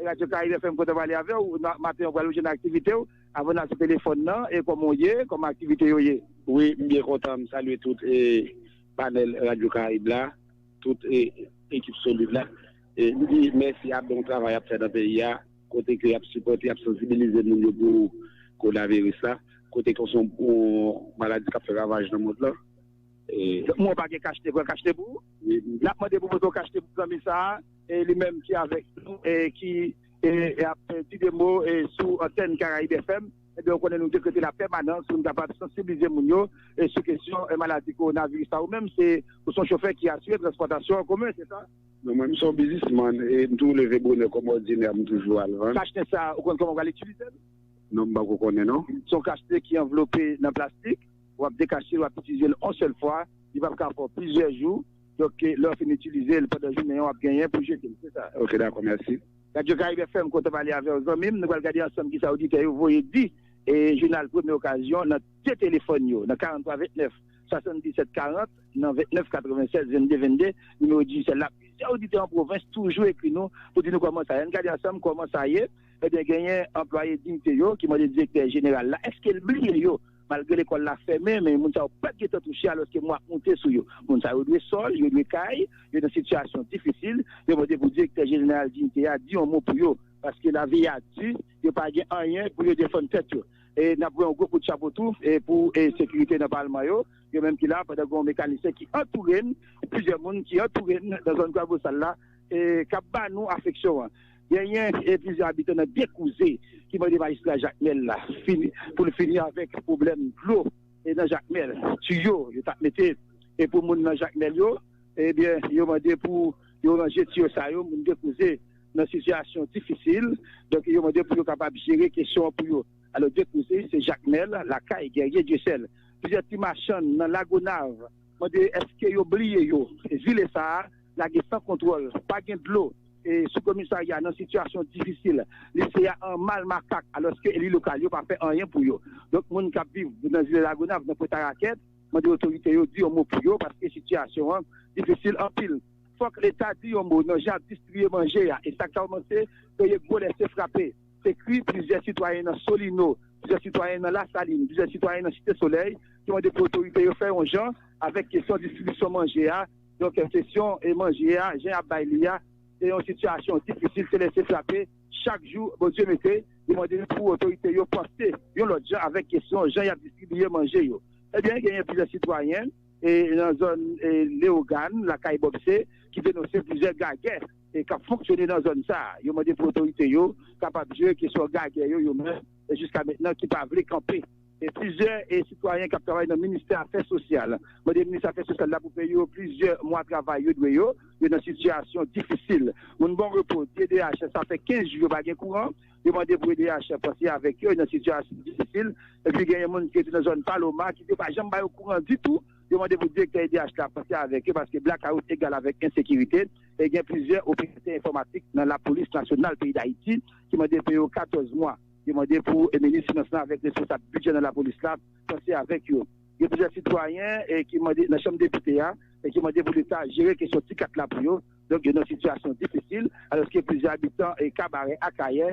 Radio Caribe FM kontan pale avè w maten an pral ou jwenn aktivite w avan nan sou telefòn nan e kòman w ye kòman aktivite yo ye. Wi m byen kontan m salye tout panèl Radio Caribe la tout ekip solid la m di mèsi a bon travay yap fè nan peyi a kote ke yap sipòte yap sansibilize moun yo pou konaviris la kote ke son maladi kap fè ravaj nan mond lan e. Mwen pa gen kachete pran kachete pou ou nap mande pou pote yon kachete pou zanmi sa a. E li menm ki avèk nou e ki ap di de mo sou antèn Caraïbes FM, ebyen ou konnen nou dekrete la pèmanans pou nou kapab sansibilize moun yo sou kesyon maladi kowonaviris la. Ou menm se ou son chofè ki asire transpòtasyon an komen, se sa? Non, mwen m son bizismann e m toujou leve bonè kòm òdinè m toujou al vann. Kachnen sa ou konn kòman ou pral itilize l? Non, m pako konnen non. Se yon kachnen ki anvlope nan plastik, wap dekache l wap itilize l yon sèl fwa, li pap ka fè w plizyè jou. Donk lè w fin itilize l pandan jounen an w ap genyen pou jete l se sa? Ok dakò mèsi. Radio Caribe FM kontan pale avèw zanmim nou pral gade ansanm kisa oditè yo voye di jounal premye okazyon nan 2 telefòn yo nan 43 29 77 40 nan 29 96 22 22 nimewo Digicel la plizyè oditè an pwovens toujou ekri nou pou di nou kòman sa ye ann gade ansanm kòman sa ye ebyen genyen anplwaye Dignité yo ki mande direktè jeneral la èskel bliye yo Malgre lekòl la fèmen, men moun sa yo pa t gen tan touche alòske mwa ap moute sou yo. Moun sa yo dwe sòl, yo dwe kay, yo nan sitiyasyon difisil. Yo mande pou Direktè Jeneral Diyite a di yon mo pou yo paske lavi a di, yo pa gen anyen pou yo defann tèt yo. N ap voye yon gwo kout chapo tou pou sekirite nan palman yo, yo menm ki la pandan gen yon mekanisyen ki antoure n, plizyè moun ki antoure n nan zòn Kwabosal la k ap ba nou afeksyon an. Genyen plizyè abitan nan Dekouze ki mande majistra Jakmèl la pou l fini avèk pwoblèm dlo nan Jakmèl. Tiyo yo t ap mete pou moun nan Jakmèl yo, ebyen yo mande pou yo ranje tiyo sa yo. Moun Dekouze nan sitiyasyon difisil, donk yo mande pou yo kapab jere kesyon an pou yo. Alò Dekouze se Jakmèl, lakay gèrye Dyesèl. Plizyè ti machann nan Lagonav. Mande eske yo bliye yo. Zile sa a lage san kontwòl, pa gen dlo, sou komisarya nan sitiyasyon difisil. Lise a an mal makak alòske eli lokal yo pa fè anyen pou yo. Donk moun k ap viv nan zile Lagonav, nan Pwentarakèt, mande otorite yo di yon mo pou yo paske sitiyasyon an difisil anpil. Fòk leta di yon mo nan jan y ap distribiye manje a e sa k kòmanse peye gwo lese frape. Se kri plizyè sitwayen nan Solino, plizyè sitwayen nan Lasalin, plizyè sitwayen nan Site Solèy ki mande pou otorite yo fè yon jan avèk kesyon distribisyon manje a, donk kesyon manje a jan y ap bay li a se yon sitiyasyon difisil se lese frape chak jou Bondye mete, yo mande pou otorite yo panse yon lòt jan avèk kesyon jan y ap distribiye manje yo. Ebyen genyen plizyè sitwayen nan zòn Leogane, lakay Bòpse ki denonse plizyè gagè. k ap fonksyone nan zòn sa a. Yo mande pou otorite yo kapab jere kesyon gagè yo yo menm e jiska mentnan ki pa vle kanpe. Plizyè sitwayen k ap travay nan ministè afè sosyal mande minis afè sosyal la pou peye yo plizyè mwa travay yo dwe yo. Yo nan sitiyasyon difisil. Moun Bon Repo di edh sa fè 15 jou yo pa gen kouran. Yo mande pou edh panse avèk yo. Yo nan sitiyasyon difisil. Epi genyen moun ki rete nan zòn Paloma ki di yo pa janm ba yo kouran ditou. Yo mande pou direktè edh la panse avèk yo paske blakawout egal avèk ensekirite e gen plizyè operatè enfòmatik nan lapolis nasyonal peyi Dayiti ki mande peye yo 14 mwa. Yo mande pou minis finans lan avèk responsab bidjè nan lapolis la panse avèk yo. Gen plizyè sitwayen ki mande nan chanm depite a ki mande pou leta jere kesyon ti kat la pou yo. Donk yo nan sitiyasyon difisil alòske plizyè abitan Kabarè, Akayè,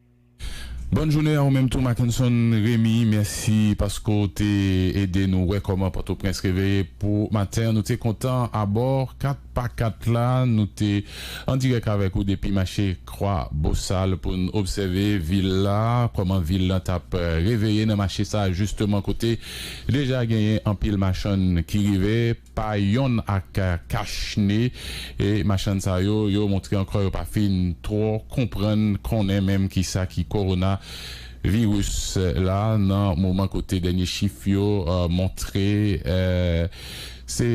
Bòn jounen a ou menm tou Mackenson Remy, mèsi paske w te ede nou wè kòman Pòtoprens reveye pou maten an. Nou te kontan abò 4 pa 4 la, nou te an dirèk avèk ou depi mache Kwa Bosal pou n obsève vil la, kòman vil lan t ap reveye nan mache sa a jisteman kote deja genyen anpil machann ki rive. Pa yonn ak kachne e machann sa yo, yo montre ankò yo pa fin twò konprann, konnen menm ki sa ki kowona viris la nan moman kote dènye chif yo montre se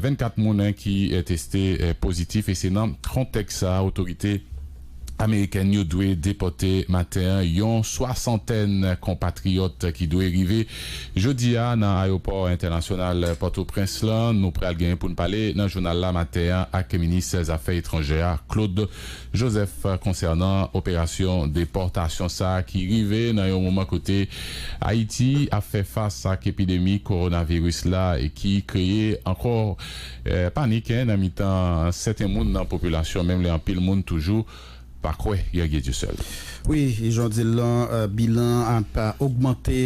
24 moun ki teste pozitif e se nan kontèks sa otorite Amerikèn yo dwe depòte maten an yon swasantèn konpatriyòt ki dwe rive jodi a nan ayewopò entènasyonal Pòtoprens lan. Nou pral gen pou n pale nan jounal la maten an ak minis zafè etranjè a, Claude Joseph konsènan operasyon depòtasyon sa ki rive nan yon moman kote Ayiti ap fè fas ak epidemi kowonaviris la ki kreye ankò Panik nan mitan sèten moun nan popilasyon menm lè anpil moun toujou pa kwè gen Dye Dyesèl. Wi, jan w di l lan, bilan an ap ogmante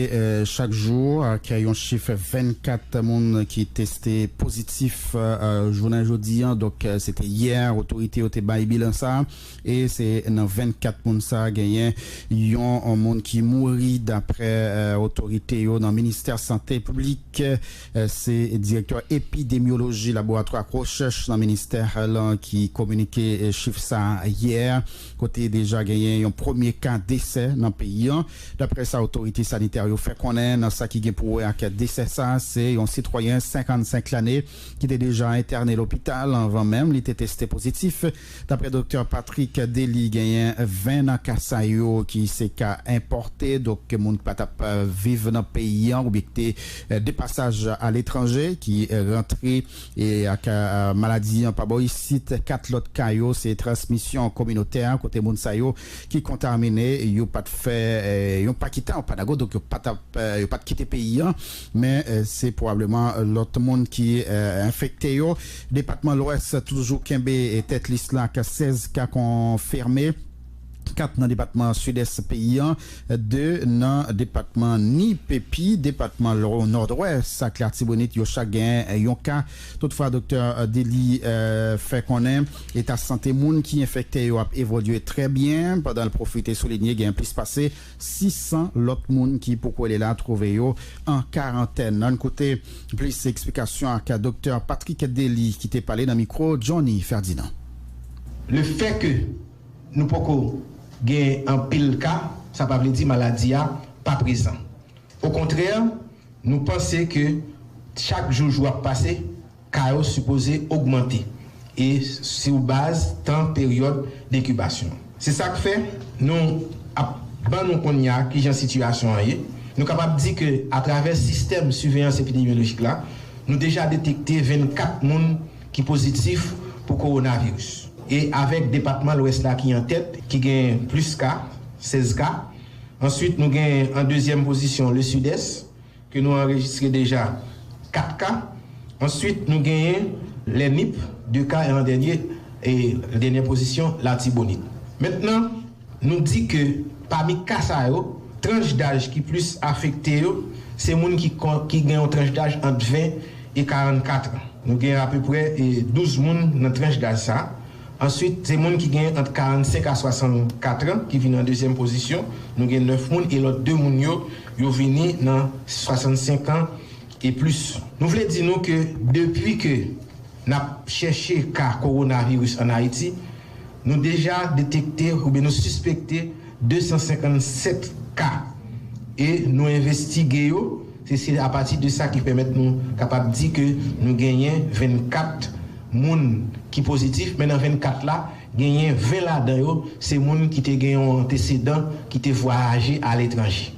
chak jou ak yon chif 24 moun ki teste pozitif jounen jodi an. Donk se te yè otorite yo te bay bilan sa a e se nan 24 moun sa a genyen yon moun ki mouri daprè otorite yo nan ministè sante piblik. Se direktè epidemyoloji laboratwa ak rechèch nan ministè lan ki kominike chif sa yè, kote deja genyen yon premye ka desè nan peyi an. Daprè sa otorite sanitè yo fè konnen nan sa ki gen pou wè ak desè sa, se yon sitwayen 55 lane ki te deja entène lopital anvan menm li te teste pozitif. Daprè doktè Patrick Dely genyen 20 nan ka sa yo ki se ka enpòte, donk moun ki pa t ap viv nan peyi an oubyen ki te de pasaj aletranje ki rantre ak maladi an pa bò isit. 4 lòt ka yo se transmisyon kominotè kote moun sa yo ki kontamine yo pa t fè yon pa ki tan yo pa dago donk yo pa t ap yo pa t kite peyi an Men se pwobableman lòt moun ki enfekte yo. Depatman Lwès toujou kenbe tèt lis la ak 16 ka konfime, 4 nan depatman Sidès peyi an, 2 nan depatman Nip epi depatman Nòdwès ak Latibonit yo chak gen yon ka. Toutfwa Doktè Delly fè konnen eta sante moun ki enfekte yo ap evolye trè byen pandan l pwofite soulinye gen plis pase. 600 lòt moun ki poko ale la twouve yo an karantèn. Ann koute plis eksplikasyon ak Doktè Patrick Dely ki te pale nan mikwo Johnny Ferdinand. Le fè ke nou poko gen anpil ka, sa pa vle di maladi a pa prezan. Okontrè, nou panse ke chak jou jou ap pase, ka yo sipoze ogmante e sou baz tan peryòd denkibasyon. Se sa k fè nou ap ban nou kounye a ki jan sitiyasyon an ye. Nou kapab di ke atravè sistèm siveyans epidemyolojik la, nou deja detekte 24 moun ki pozitif pou kowonaviris e avèk depatman Lwès la ki an tèt ki gen plis ka, 16 ka. Answit nou gen an dezyèm pozisyon Le Sud-Est, ke nou anrejistre deja 4 ka, answit nou genyen lè Nip 2 ka e an dènye e dènyè pozisyon Latibonit. Mentnan nou di ke pami ka sa yo tranch daj ki plis afekte yo se moun ki ki gen yon tranch daj ant 20 e 44 an. Nou gen apeprè 12 moun nan tranch daj sa. Answit, se moun ki gen ant 45 a 64 an ki vini an dezyèm pozisyon, nou gen 9 moun e lòt 2 moun yo, yo vini nan 65 an e plis. Nou vle di nou ke depi ke n ap chèche ka kowonaviris an Ayiti, nou deja detekte oubyen nou sispekte 257 ka e nou envestige yo, Se se a pati de sa ki pèmèt nou kapab di ke nou genyen 24 moun ki pozitif, men nan 24 la, genyen 20 ladan yo se moun ki te gen yon antesedan ki te vwayaje aletranje.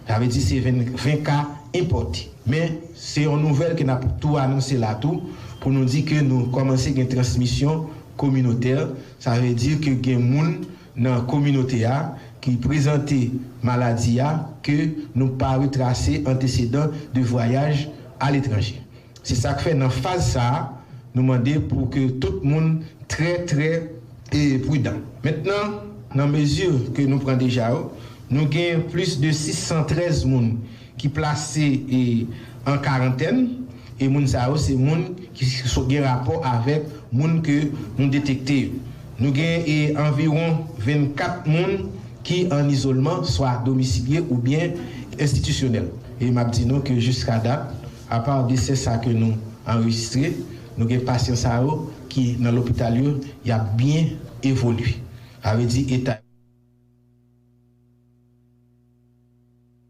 Sa vle di se 20 ka enpòte. Men, se yon nouvèl ke n ap tou anonse la tou pou nou di ke nou kòmanse gen transmisyon kominotè, sa vle di ke gen moun. nan kominote a ki prezante maladi a ke nou pa retrase antesedan de vwayaj aletranje. Se sa k fè nan faz sa a nou mande pou ke tout moun trè trè prudan. Mentnan, nan mezi ke nou pran deja yo, nou gen plis de 613 moun ki plase an karantèn e moun sa yo se moun ki gen rapò avèk moun ke nou detekte yo. Nou gen anviwon 24 moun ki an izolman swa domisilye oubyen enstitisyonèl. E m ap di nou ke jiska dat, apa desè sa ke nou anrejistre, nou gen pasyan sa yo ki nan lopital yo, y ap byen evolye. Sa vle di eta.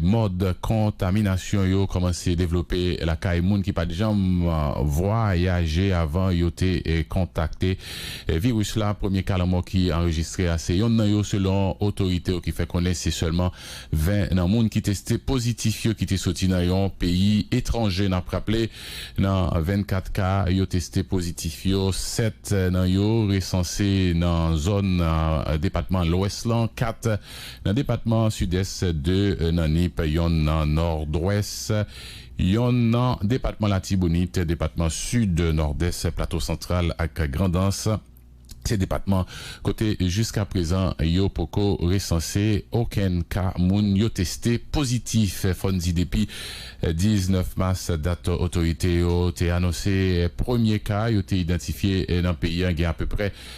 Mòd kontaminasyon yo kòmanse devlope lakay moun ki pa t janm vwayaje avan yo te kontakte viris la. Premye ka lanmò ki anrejistre a se yonn nan yo, selon otorite yo ki fè konnen se sèlman 20 nan moun ki teste pozitif yo ki te soti nan yon peyi etranje. N ap raple, nan 24 ka yo teste pozitif yo, 7 nan yo resanse nan zòn depatman Lwès lan, 4 Nan depatman Sidès, 2 nan Nip, yonn nan Nòdwès, yonn nan depatman Latibonit, depatman Sid, Nòdès, Plato Santral ak Grandans se depatman kote jiskaprezan yo poko resanse okenn ka moun yo teste pozitif. Fò n di depi 19 mas, dat otorite yo te anonse premye ka yo te idantifye nan peyi an, gen apeprè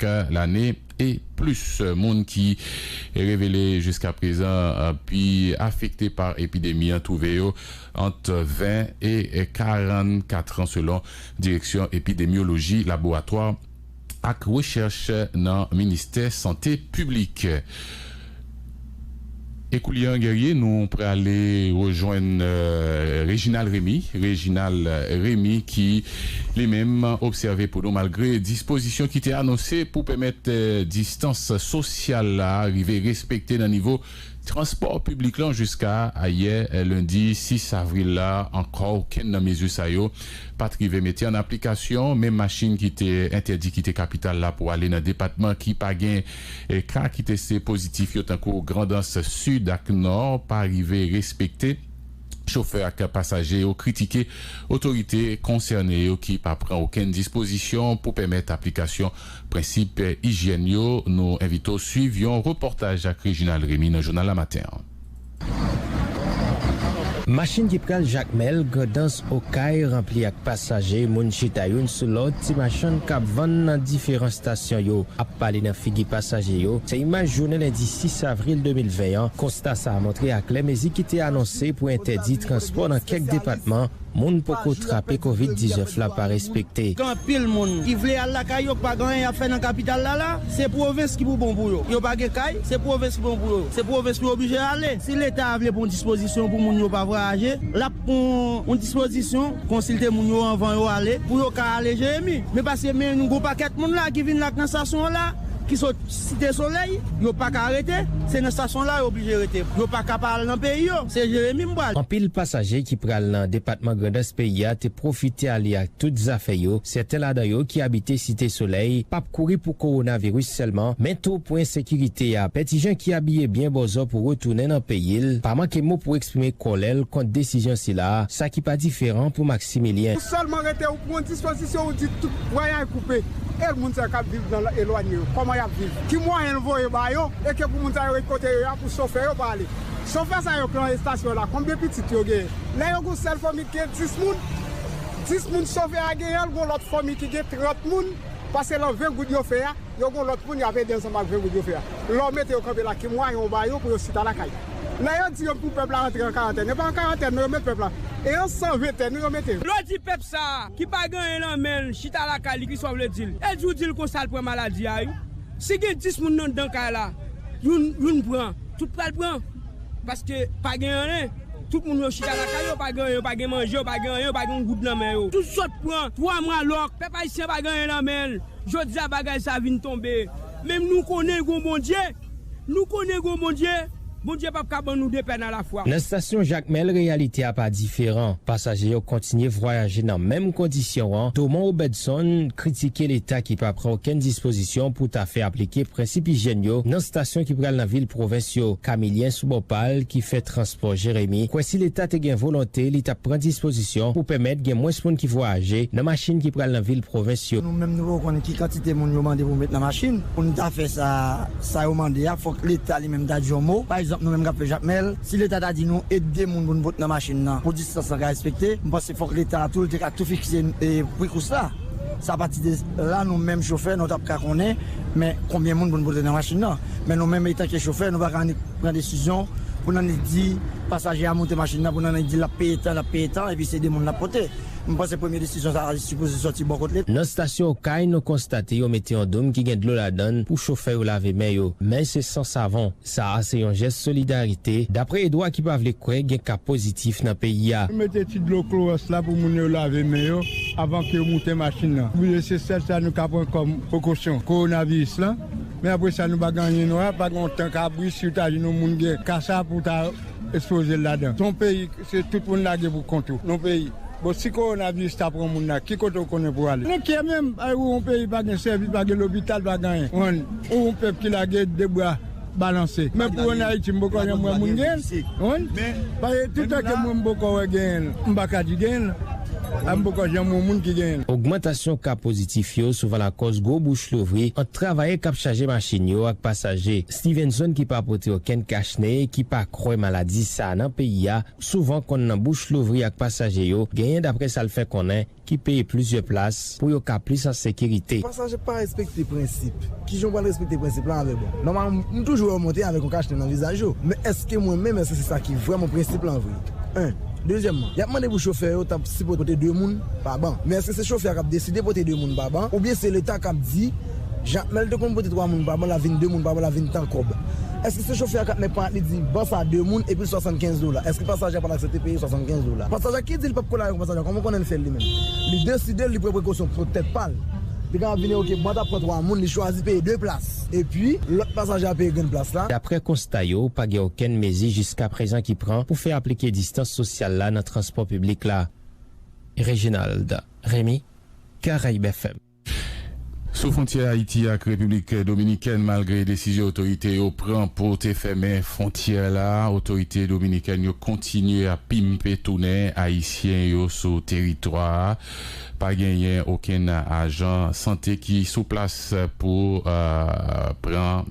K lane e plis moun ki revele jiskaprezan pi afekte pa epidemi an twouve yo ant 20 e 44 an selon Direksyon Epidemyoloji, Laboratwa ak Rechèch nan Ministè Sante Piblik. E koulye an Guerrier nou prale rejwenn Reginald Remy, Reginald Remy ki li menm obsève pou nou malgre dispozisyon ki te anonse pou pèmèt distans sosyal la rive respekte nan nivo transpò piblik lan jiska ayè lendi 6 avril la ankò okenn nan mezi sa yo pat rive mete an aplikasyon menm machin ki te entèdi kite kapital la pou ale nan depatman ki pa gen Ka ki teste pozitif yo tankou Grandans Sid ak Nò pa rive respekte, chofè ak pasaje yo kritike otorite konsène yo ki pa pran okenn dispozisyon pou pèmèt aplikasyon prensip ijyèn yo. Nou envite w swiv yon repòtaj ak Reginald Remy nan jounal la maten an. Machin ki pral Jakmèl, Grandans, Okay ranpli ak pasaje, moun chita youn sou lòt, ti machann k ap vann nan diferan stasyon yo ap pale nan figi pasaje yo, se imaj jounen lendi 6 avril 2020 an. Konsta sa a montre aklè mezi ki te anonse pou entèdi transpò nan kèk depatman, Moun poko trape covid 19 la pa respekte. Gen anpil moun ki vle al lakay yo k pa gen anyen y ap fè nan kapital la la. Se pwovens ki pou bon pou yo. Yo pa gen kay, se pwovens ki bon pou yo. Se pwovens pou yo oblije ale. Si Leta a vle pran yon dispozisyon pou moun yo pa vwayaje, l ap pran yon dispozisyon, konsilte moun yo anvan yo ale, pou yo ka ale Jeremi. Men paske men yon gwo pakèt moun la ki vin la k nan stasyon an la, ki sot. Site Solèy, yo pa ka rete, se nan stasyon la yo oblije rete. Yo pa ka pa al nan peyi yo, se Jeremi m pral. Anpil pasaje ki pral nan depatman Grandans peyi a te pwofite ale ak tout zafè yo. Sèten ladan yo ki abite Site Solèy p ap kouri pou kowonaviris sèlman, men tou pou ensekirite a. Pètijan ki abiye byen bòzò pou retounen nan peyi l, pa manke mo pou eksprime kòlè l kont desizyon sila, sa ki pa diferan pou Maximilien. Ou sèlman rete ou pran dispozisyon ou di tout vwayay koupe. E moun sa yo k ap viv nan elwanye yo, kòman y ap viv? Ki mwayen l voye ba yo? E ke pou moun sa yo ret kote yo a pou chofè yo pa ale? Chofè sa yo k lan estasyon an la, konbyen pitit yo genyen? Lè yo gen yon sèl fanmi ki gen 10 moun, 10 moun chofè a genyen, l gen yon lòt fanmi ki gen 30 moun, paske lan 20 goud yo fè a, yo gen yon lòt moun y ap ede ansanm ak 20 goud yo fè a. Lè w mete yo kanpe la, ki mwayen ou ba yo pou yo chita lakay? Lè yo di yo pou pèp la antre an karantèn, yo pa an karantèn non, yo met pèp la. E yon san ventèn wi yo mete yo. Lè w di pèp sa a, ki pa gen anyen lan menl chita lakay li kiswa vle dil e jou dil konsa l pran maladi a wi si gen 10 moun nan dan kay la youn youn pran tout pral pran paske pa gen anyen tout moun yo chita lakay yo pa gen anyen yo pa gen manje yo pa gen anyen yo pa gen yon goud nan men yo tout sot pran 3 mwa lòk pèp ayisyen pa gen anyen lan menl jodi a bagay sa vin tonbe men nou konnen gon Bondye. Nou konnen gon Bondye, Bondye pap ka ban nou depè nan lafwa. Nan stasyon Jakmèl reyalite a pa diferan, pasaje yo kontinye vwayaje nan menm kondisyon an, Thoman Obedson kritike leta ki pa pran okenn dispozisyon pou ta fè aplike prensip ijyèn yo nan stasyon ki pral nan vil pwovens yo. Camilien sou bò pa l ki fè transpò Jeremi kwè si leta te gen volonte li tap pran dispozisyon pou pèmèt gen mwens moun ki vwayaje nan machin ki pral nan vil pwovens yo. Nou menm nou poko konn ki kantite moun yo mande pou met nan machin. Pou nou ta fè sa sa yo mande a, fòk leta li menm ta di yon mo. Pa egzanp, nou menm k ap fè Jakmèl, si leta ta di nou e de moun pou nou pot nan machin nan pou distans lan ka respekte, m panse fòk leta a tou l te ka tou fikse pri kous la. Sa a pati de la nou menm chofè nou t ap ka konnen men konbyen moun pou nou pote nan machin nan. Men nou menm etanke chofè nou pa ka annik pran desizyon pou n annik di pasaje a monte machin nan pou n annik di l ap peye tan l ap peye tan epi se de moun l ap pote. M panse premye desizyon sa a sipoze sòti bò kot leta. Nan stasyon Okay nou konstate yo mete yon doum ki gen dlo ladann pou chofè yo lave men yo, men se san savon. Sa a se yon jès solidarite, daprè Edwa ki pa vle kwè gen ka pozitif nan peyi a. Nou mete ti dlo klowòs la pou moun yo lave men yo avan ke yo moute machin nan. Nou bliye se sèl sa nou ka pran kòm prekosyon kowonaviris lan, men apre sa nou pa gen anyen nou a pa gen yon tank abri si w ta jwenn yon moun gen ka sa a pou w ta ekspoze l ladan. Se yon peyi Se tout moun lage pou kont ou non peyi. Bon si korona viris ta pran moun la ki kote ou konnen pou ale. Nou kye menm ay ou yon peyi pa gen sèvis pa gen lopital pa gen anyen ou yon pèp ki lage de bra balanse men pou an ayiti m poko janm wè moun gen yon paske tout tan ke mwen m poko wè gen yon m pa ka di gen yon a m poko janm wè moun ki gen yon. Ogmantasyon ka pozitif yo souvan lakòz gwo bouch louvri ant travayè k ap chaje machin yo ak pasaje. Stevenson ki pa pote okenn kach ne e ki pa kwè maladi sa a nan peyi a, souvan konn nan bouch louvri ak pasaje yo, genyen daprè sa l fè konnen, ki peye plizyè plas pou yo ka plis an sekirite. Pasaje pa respekte prensip. Kijan w pral respekte prensip lan avèk mwen? Nòmalman m toujou wè yo monte avèk yon kach ne nan vizaj yo, men èske mwen menm èske se sa ki vrèman prensip lan vre? 1. Dezyèmman, y ap mande pou chofè yo ta sipote pote 2 moun pa ban. Men èske se chofè a k ap deside pote 2 moun pa ban oubyen se leta k ap di, Jan lè l te konn pote 3 moun pa ban la vin 2 moun pa ban la vin tan kòb. Èske se chofè a k ap met pan li di ban sa 2 moun epi l 75 dola? Èske pasaje a pa t aksepte peye 75 dola? Pasaje a ki di li p ap kole avèk yon pasaje a kòman w konnen l fè l li menm? Li deside l, li pran prekosyon pou tèt pa l. Li kapab vini ok ban ta pran 3 moun li chwazi peye 2 plas epi lòt pasaje a peye grenn plas la. Daprè konsta yo, pa gen okenn mezi jiskaprezan ki pran pou fè aplike distans sosyal la nan transpò piblik la. Reginald, Remy, Caraibes FM. Sou fwontyè Ayiti ak Repiblik Dominikèn, malgre desizyon otorite yo pran pou te fèmen fwontyè la, otorite dominikèn yo kontinye ap pimpe tounen ayisyen yo sou teritwa a. Pa genyen okenn ajan sante ki sou plas pou pran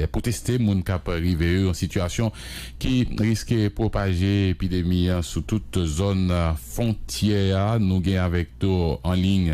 pou teste moun k ap rive yo, yon sitiyasyon ki riske pwopaje epidemi an sou tout zòn fwontyè a. Nou gen avèk tou anliy.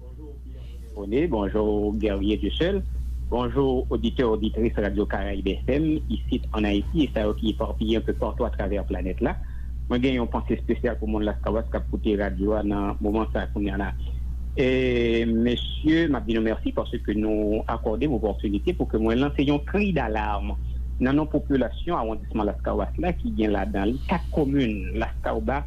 Bonjour Pierre Renold, bonjour Guerrier Dieuseul, bonjour oditè oditris Radio Caraïbes FM isit an Ayiti e sa yo ki eparpiye anpe partou atravè planèt la. Mwen gen yon panse spesyal pou moun Laskawès kap koute radyo a nan moman sa kounya la. Mesye map di nou mèsi paske nou akòde m opòtinite pou ke mwen lanse yon kri dalarm nan non popilasyon awondisman Laskawas la ki gen ladan li 4 komin, Laskawbas,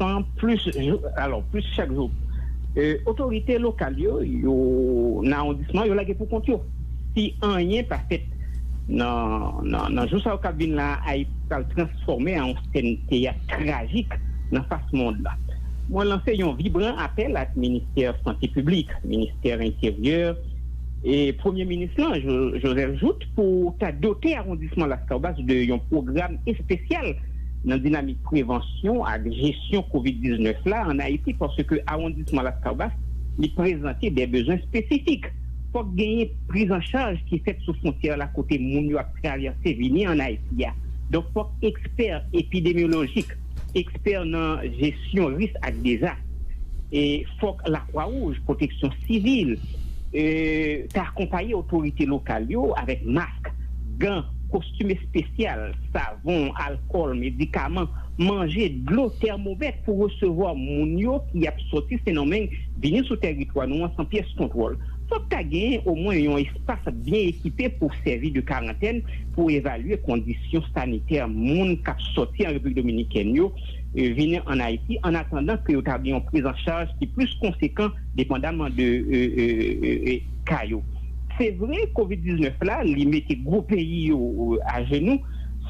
Tan plis jou alò plis chak jou otorite lokal yo yo nan awondisman yo lage pou kont yo si anyen pa fèt nan jou sa yo k ap vin la a Ayiti pral transfòme an yon sèn teyat trajik nan fas mond la mwen lanse yon vibran apèl ak ministè sante piblik ministè enteryè e premye minis lan Joseph Jouthe. pou ta dote awondisman Laskawbas de yon pwogram espesyal nan dinamik prevansyon ak jesyon kovid 19 la an Ayiti paske awondisman Laskawbas li prezante de bezwen espesifik. Fòk genyen prizancharj ki fèt sou fwontyè la kote moun yo ap travèse vini an Ayiti a donk fòk ekspè epidemyolojik, Ekspè nan jesyon risk ak dezas, fòk Lakwa Wouj, Pwoteksyon Sivil, ta akonpaye otorite lokal yo avèk mask, gan, kostim espesyal, savon, alkòl, medikaman, manje, dlo, tèmomèt pou resevwa moun yo ki ap soti Sendomeng vini sou tèritwa nou an san pyès kontwòl. Fòk ta gen omwen yon. Staf byen ekipe pou sèvi de karantèn pou evalye kondisyon sanitè moun k ap sòti an Repiblik Dominikèn yo vin an Ayiti an atandan ke yo ta gen yon priz an chaj ki plis konsekan depandaman de ka yo. Se vre kovid 19 la li mete gwo peyi yo ajenou,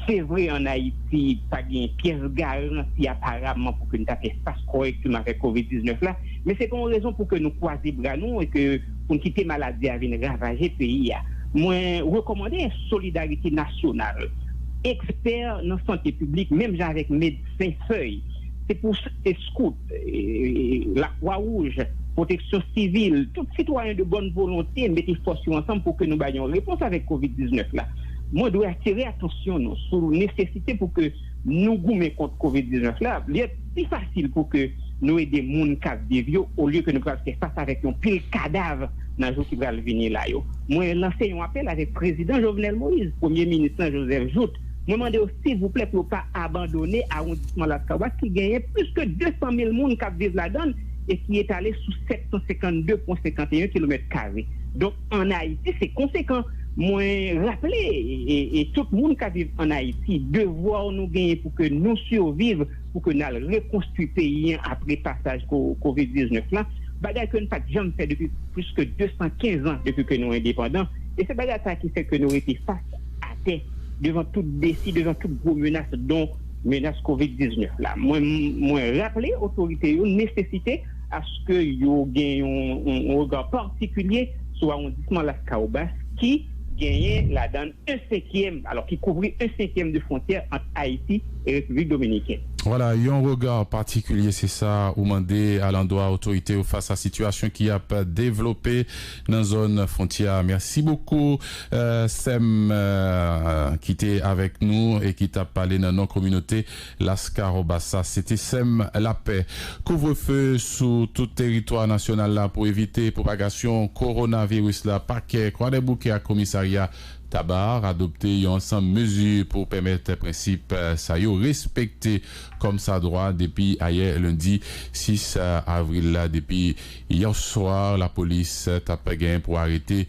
se vre an Ayiti pa gen pyès garanti aparaman pou ke n ta fè fas kòrèkteman avèk kovid 19 la, men se pa yon rezon pou ke nou kwaze bra nou e ke pou n kite maladi a vin ravaje peyi a. Mwen rekòmande solidarite nasyonal, ekspè nan sante piblik menm jan avèk medsen fèy, se pou se skout, lakwa wouj, pwoteksyon sivil, tout sitwayen de bòn volonte mete fòs yo ansanm pou ke nou bay yon repons avèk covid 19 la. Mwen dwe atire atansyon nou sou nesesite pou ke. nou goumen kont covid 19 la, li ap pi fasil pou ke nou ede moun kap viv yo olye ke nou pral fè fas avèk yon pil kadav nan jou ki pral vini la yo. Mwen lanse yon apèl avèk Prezidan Jovenel Moïse, Premye Minis lan Joseph Jouthe, mwen mande yo silvouplè pou yo pa abandone awondisman Las Caguas ki genyen plis ke 200 mil moun kap viv ladann e ki etale sou 752,51 kilomèt kare. an Ayiti se konsekan. Mwen raple e tout moun kap viv an Ayiti devwa nou genyen pou ke nou siviv pou ke nal rekonstwi peyi an apre pasaj kovid 19 lan bagay ke nou pat janm fè depi plis ke 215 an depi ke nou endepandan e se bagay sa ki fè ke nou rete fas atè devan tout defi devan tout gwo menas don menas kovid 19 la mwen raple otorite yo nesesite aske yo gen yon rega patikilye sou awondisman Laskawobas ki genyen ladan l en senkyèm, alò ki kouvri en senkyèm de fwontyè ant Ayiti e Repiblik Dominiken. Vwala, yon rega patikilye se sa ou mande alandwa otorite yo fas a sitiyasyon ki ap devlope nan zòn fwontyè a. Mèsi bokou sè m ki te avèk nou e ki t ap pale nan non kominote Lascahobasa City Sèm lapè, kouvrefe sou tout teritwa nasyonal la pou evite pwopagasyon kowonaviris la Pakè Kwadèboukè ak Komisarya Taba adopte yon ansanm mezi pou pèmèt prensip sa yo respekte kòmsadwa depi ayè lendi 6 avril la Depi yè swa lapolis t ap gen pou arete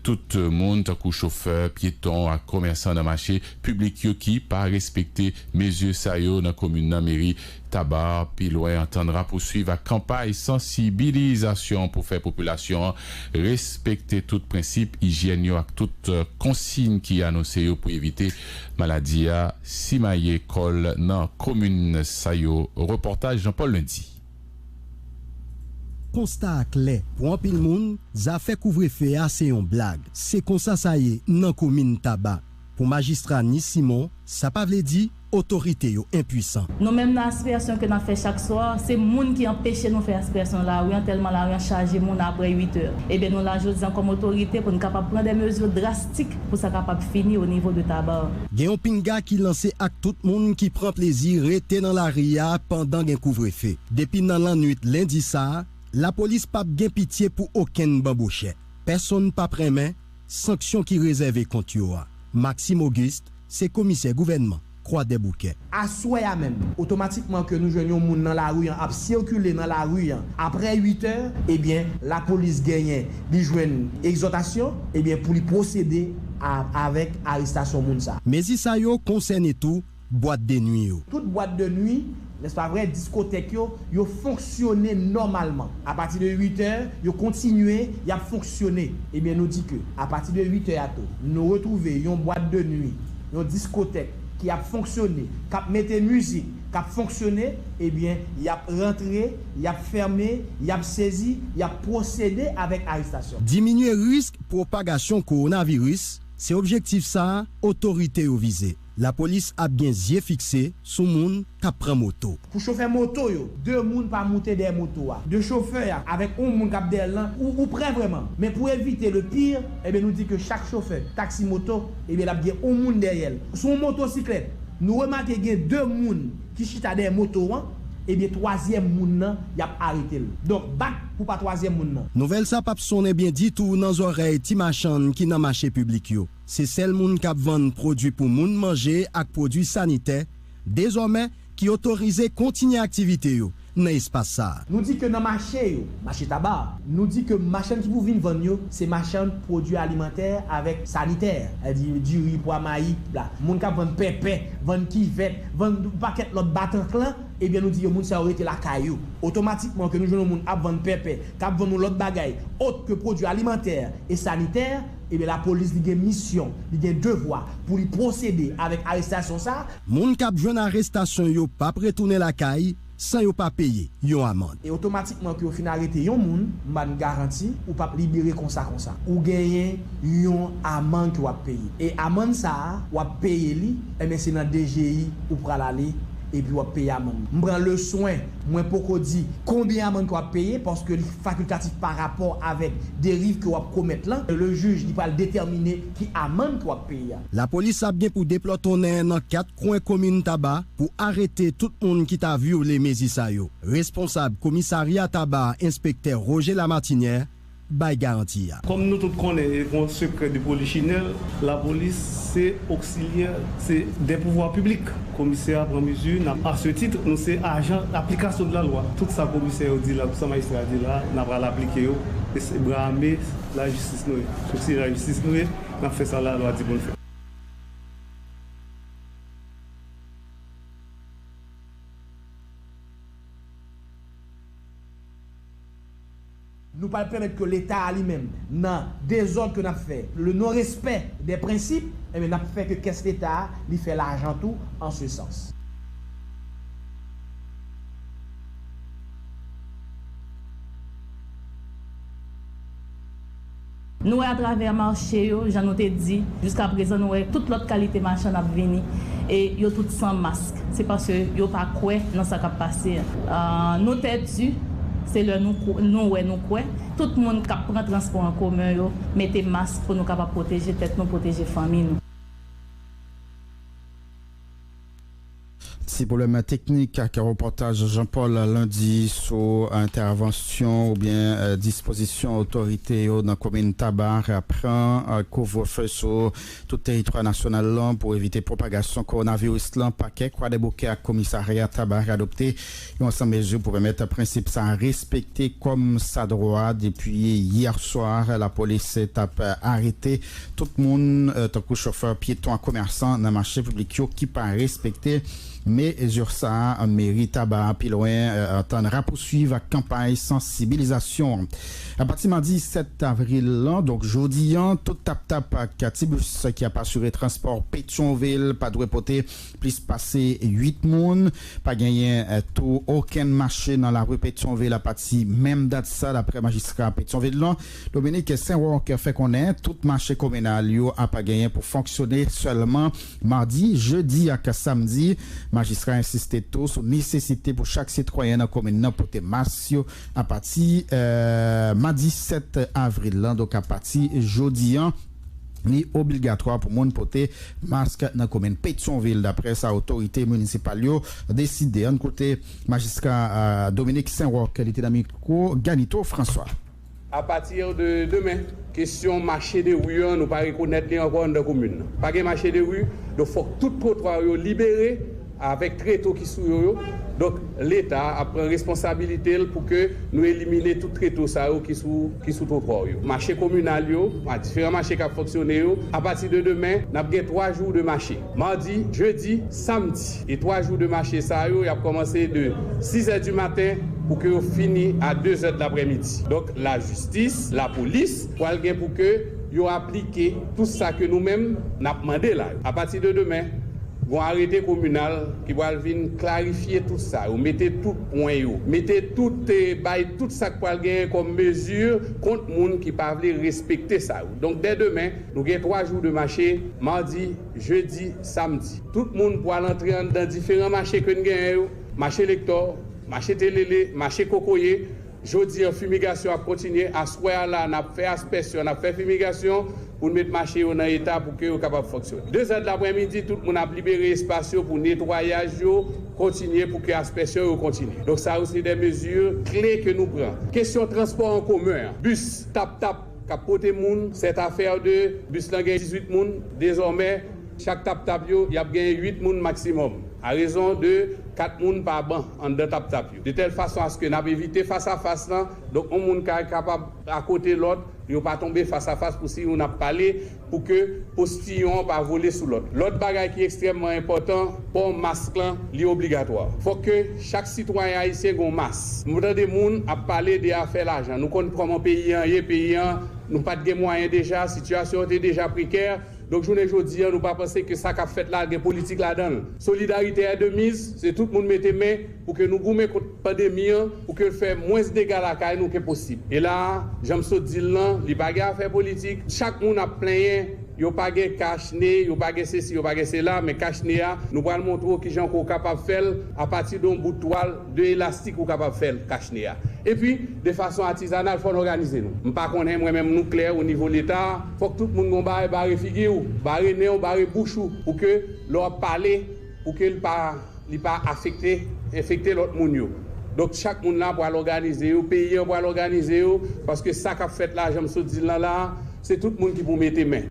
tout moun tankou chofè, pyeton ak komèsan nan mache Piblik yo ki pa respekte mezi sa yo nan komin nan meri Taba pi lwen antann rapousuiv ak kanpay sansibilizasyon pou fè popilasyon an respekte tout prensip ijyèn yo ak tout konsiyn ki anonse yo pou evite maladi a simaye kò l nan komin sa yo Repòtaj Jean Paul Lundy. Konsta a klè, pou anpil moun, zafè kouvrefe a se yon blag. Se konsa sa ye nan komin Taba. Pou majistra Nice Simon, sa pa vle di otorite yo enpuisan. Nou menm nan aspirasyon ke nap fè chak swa, se moun ki anpeche nou fè aspirasyon nan lari an tèlman lari an chaje moun aprè 8 è. Ebyen nou la jodi an kòm otorite pou n kapab pran dè mezi drastik pou sa kapab fini o nivo de taba an. Gen yon pinga ki lanse ak tout moun ki pran plezi rete nan lari a pandan gen kouvrefe. Depi nan lannwit lendi sa, lapolis pap gen pitye pou okenn banbochè. Pèsonn pap renmen. Sanksyon ki rezève kont yo a. Maxime Auguste se komisè gouvènman Kwadèboukè. Aswè a menm, otomatikman ke nou jwenn yon moun nan lari an ap sikile nan lari an apre 8 è, ebyen lapolis genyen li jwenn egzòtasyon, ebyen pou li pwosede a avèk arestasyon moun sa. Mezi sa yo konsène tou bwat de nwi yo. Tout bwat de nwi, nèspa vre, diskotèk yo, yo fonksyone nòmalman. Apati de 8 è, yo kontinye, y ap fonksyone. Ebyen nou di ke, apati de 8 è a tou, nou retwouve yon bwat de nwi, yon diskotèk ki ap fonksyone, k ap mete mizik, k ap fonksyone, ebyen y ap rantre, y ap fème, y ap sezi, y ap pwosede avèk arestasyon. Diminye risk pwopagasyon kowonaviris, se objektif sa a otorite yo vize. Lapolis ap gen zye fikse sou moun k ap pran moto. Pou chofè moto yo. 2 moun pa moute dèyè moto a. 2 chofè a avèk on moun k ap dèyè l lan ou ou prè vrèman. Men pou evite le pire, ebyen nou di ke chak chofè taksi moto ebyen l ap gen on moun dèyè l. Sou on motosiklèt, nou remake gen 2 moun ki chita dèyè moto an, ebyen twazyèm moun nan y ap arete l. Donk bat pou pa twazyèm moun nan. Nouvèl sa p ap sonnen byen ditou nan zòrèy ti machann ki nan mache piblik yo. Se sèl moun k ap vann pwodui pou moun manje ak pwodui sanitè, dezòmè, ki otorize kontinye aktivite yo nan espas sa a. Nou di ke nan mache yo, mache taba, nou di ke machann ki pou vin vann yo, se machann pwodui alimantè avèk sanitè, sa di diri, pwa, mayi, bla. Moun k ap vann pèpè, vann kivèt, vann yon pakèt lòt batanklan, ebyen nou di yo moun sa yo rete lakay yo. Otomatikman ke nou jwenn yon moun ap vann pèpè, k ap vann yon lòt bagay ot ke pwodui alimantè e sanitè, Ebyen la polis li gen misyon, li gen devwa pou li pwosede avèk arestasyon sa. Moun kap jwenn arestasyon yo pap retounen lakay san yo pa peye yon amand. E otomatikman ke yo fin arete yon moun, m ba n garanti, ou pap libere konsa konsa. Ou genyen yon amand ke wap peye. E amand sa, wap peye li, ebyen se nan DGI ou pral ale epi wap peye amand. M pran leswen Mwen poko di konbyen amann ke wap peye paske li fakultatif pa rapò avèk deriv ke wap komèt lan, e le jij li pral detèmine ki amann ke wap peye a. Lapolis ap gen pou deplòtonnen nan 4 kwen komin Taba pou arete tout moun ki ta vyole mezi sa yo. Responsab komisarya Taba enspektè Roger Lamartinière bay garanti a. Kòm nou tout konnen e kon sekrè de polichinèl, lapolis se oksilyè se dè pouvwa piblik. Komisè a pran mezi n ap asetit nou se ajan aplikasyon de la lwa. Tout sa komisè yo di la, tout sa majistra yo di la, n ap al aplike yo. E se bra ame lajistis nou ye. Oksilyè lajistis nou ye, n ap fè sa la lwa di pou n fè. Nou pral pèmèt ke leta a li menm nan dezòd ke nap fè, le non respè dè prensip, enben nap fè ke kès leta a li fè lajan tou an se sans. Nou wè atravè mache yo, jan nou te di, jiska prezan nou wè tout lòt kalite machann ap vini e yo tout san mask. Se paske yo pa kwè nan sa k ap pase an. Nou pèdi, se lè nou wè nou kwè. Tout moun k ap pran transpò an komen yo mete mask pou nou kapab pwoteje tèt nou, pwoteje fanmi nou. Ti pwoblèm teknik ak repòtaj Jean Paul Landy sou entèvansyon oubyen dispozisyon otorite yo nan komin Taba pran kouvrefe sou tout teritwa nasyonal lan pou evite pwopagasyon kowonaviris lan Pakè Kwadèboukè ak komisarya Taba adopte Yon ansanm mezi pou pèmèt prensip sa a respekte kòm sa dwa. Depi yè swa, lapolis t ap arete tout moun, tankou chofè, pyeton ak komèsan nan mache piblik yo ki pa respekte mezi sa a. Meri Taba a pi lwen antann rapousuiv ak kanpay sansibilizasyon an. Apati madi 7 avril lan, donk jodi an, tout tap-tap ak ti bis ki ap asire transpò Petyonvil pa dwe pote Plis pase 8 moun pa genyen tou okenn mache nan lari Petyonvil apati menm dat sa daprè majistra Petyonvil lan, Dominique Saint-Roch fè konnen tout mache kominal yo ap genyen pou fonksyone sèlman madi, jedi ak samdi. Majistra ensiste tou sou nesesite pou chak sitwayen nan komin nan pote mas yo apati madi 7 avril lan donk apati jodi an. Li obligatwa pou moun pote mask nan komin Petyonvil daprè sa otorite minisipal yo deside. Ann koute majistra Dominique Saint-Roch li te nan mikwo Ganito François. Apati de demen, kesyon mache de ri an nou pa rekonèt li ankò anndan komin nan. Pa gen mache de ri, donk fòk tout twotwa yo libere. avèk treto ki sou yo yo, donk leta a ap pran responsabilite l pou ke nou elimine tout treto sa yo ki sou ki sou twotwa w yo. Mache kominal yo, a diferan mache k ap fonksyone yo, apati de demen n ap gen 3 jou de mache, madi, jedi, samdi, e 3 jou de mache sa yo y ap kòmanse de 6 zè di maten pou ke yo fini a 2 zè dlaprèmidi, donk lajistis, lapolis pral gen pou ke. yo aplike tou sa ke nou menm n ap mande la yo. Apati de demen, gon arete kominal ki pral vin klarifye tout sa yo, mete tout pwen yo, mete tout, bay tout sa k pral genyen kòm mezi kont moun ki pa vle respekte sa yo. Donk dè demen, nou gen 3 jou de mache, madi, jedi, samdi. Tout moun pral antre anndan diferan mache ke n genyen yo, mache Lektò, mache Telele, mache Kokoye. Jodi an fimigasyon ap kontinye, aswè a la n ap fè aspèsyon, n ap fè fimigasyon pou n met mache yo nan eta pou ke yo kapab fonksyone. Dezèdlaprèmidi tout moun ap libere espas yo pou netwayaj yo kontinye pou ke aspèsyon yo kontinye. Donk sa yo se de mezi kle ke nou pran. Kesyon transpò an komen an, bis tap tap k ap pote moun, sèt afè de bis lan gen 18 moun, dezòmè chak tap tap yo y ap gen 8 moun maksimòm a rezon de 4 moun pa ban anndan tap tap. de tèl fason aske n ap evite fasafas lan, donk yon moun ka kapab akote lòt, pou yo pa tonbe fasafas, pou si youn ap pale, pou ke postiyon an pa vole sou lòt. Lòt bagay ki ekstrèmman enpòtan, pò mask lan, li obligatwa. Fòk ke chak sitwayen ayisyen gen yon mas. M tande moun ap pale de afè lajan, nou konn kòman peyi an ye, peyi an, nou pa t gen mwayen deja, sitiyasyon an te deja prekè, donk jounen jodi an nou pa panse ke sa k ap fèt la gen politik ladan l. Solidarite è de miz, se tout moun mete men, pou ke nou goumen kont pandemi an, pou ke fè mwens dega lakay nou ke posib. E la a, jan m sot di l lan, li pa gen afè politik, chak moun ap plenyen yo pa gen kach ne, yo pa gen sesi, yo pa gen sela, men kach ne a, nou pral montre w kijan ke w kapab fè l, apati de yon bout twal, de elastik ou kapab fè l, kach ne a. E pi, de fason atizanal, fò n òganize nou. M pa konnen, mwen menm, nou klè o nivo Leta, fòk tout moun gen yon bagay bare figi w, bare nen w, bare bouch ou, pou ke lè w ap pale, Pou ke li pa li pa afekte, enfekte lòt moun yo. Donk chak moun la pral òganize yo, peyi an pral òganize yo, paske sa k ap fèt la, jan m sot di l lan la a, se tout moun ki pou mete men.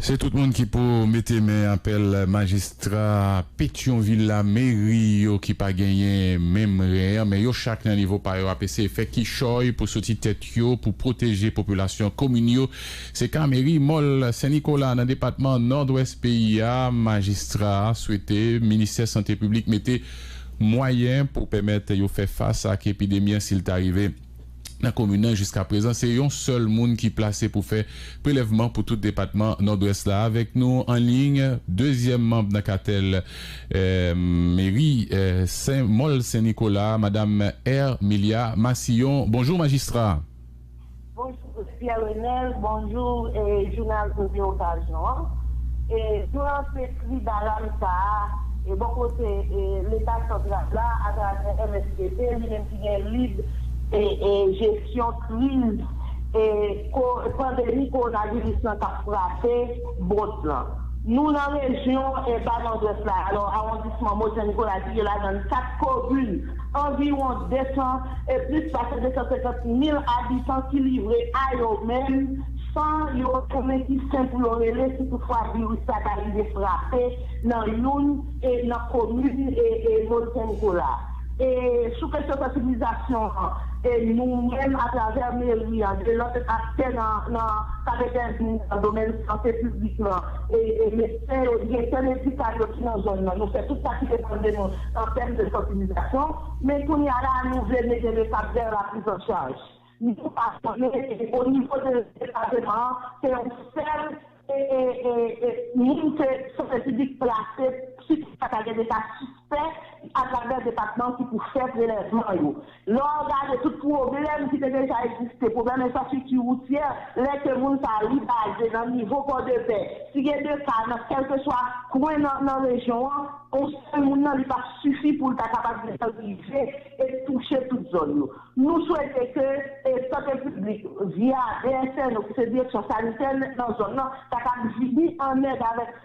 Se tout moun ki pou mete men, apèl majistra Petyonvil la, meri yo ki pa genyen menm ren an, men yo chak nan nivo pa yo ap eseye fè kichòy pou soti tèt yo, pou pwoteje popilasyon komin yo. Se ka meri Mòl Sen Nikola nan depatman Nòdwès peyi a, majistra a swete ministè sante piblik mete mwayen pou pèmèt yo fè fas ak epidemi an si l ta rive nan komin nan. Jiska prezan se yon sèl moun ki plase pou fè prelèvman pou tout depatman Nòdwès la. Avèk nou an liy, dezyèm manb nan katèl meri Sen Mòl Sen Nikola, madam Ermilia Massillon. Bonjou majistra. Bonjour Pierre Renel bonjour jounal odyo okazyon an e nou lanse kri dalam sa a e bò kote leta santral la atravè MSPP li menm ki gen lib e jesyon kriz e pandemi kowonaviris lan kap frape bond lan nou nan rejyon e ba nòdwès la alò awondisman modèn kolaji yo ladann 4 komin anviwon 200 e plis pase 250 mil abitan ki livre a yo menm san yo pa konnen ki sen pou yo rele si tout fwa viris sa ta rive frape nan youn e nan komin e Molfenko la. E sou kesyon sansibilizasyon an e nou menm a travè meri an de lòt aktè nan nan kap entèvni nan domèn sante piblik lan, e medsen yo, direktè medikal yo ki nan zòn nan, nou fè tout sa ki depann de nou an tèm de sansibilizasyon, men kounye a la a nou vle mete le pad dèyè la priz an chaj. Nou pa konnen e o nivo de depateman an se yon sèl e e e moun ke sante piblik plase si touta ta gen de ka sispè, se pa travè depatman ki pou fè prelèvman yo. Lè w gade tout pwoblèm ki te deja egziste, pwoblèm enfrastrikti woutyè, lè ke moun sa li baze nan nivo Pòdepè, si gen 2 ka nan kèlkeswa kwen nan nan rejyon an, on sèl moun nan li pap sifi pou l ta kapab desann rive e touche tout zòn yo. Nou swete ke e sante piblik via DSNO ki se direksyon sanitè nan zòn nan ta kab vini an èd avèk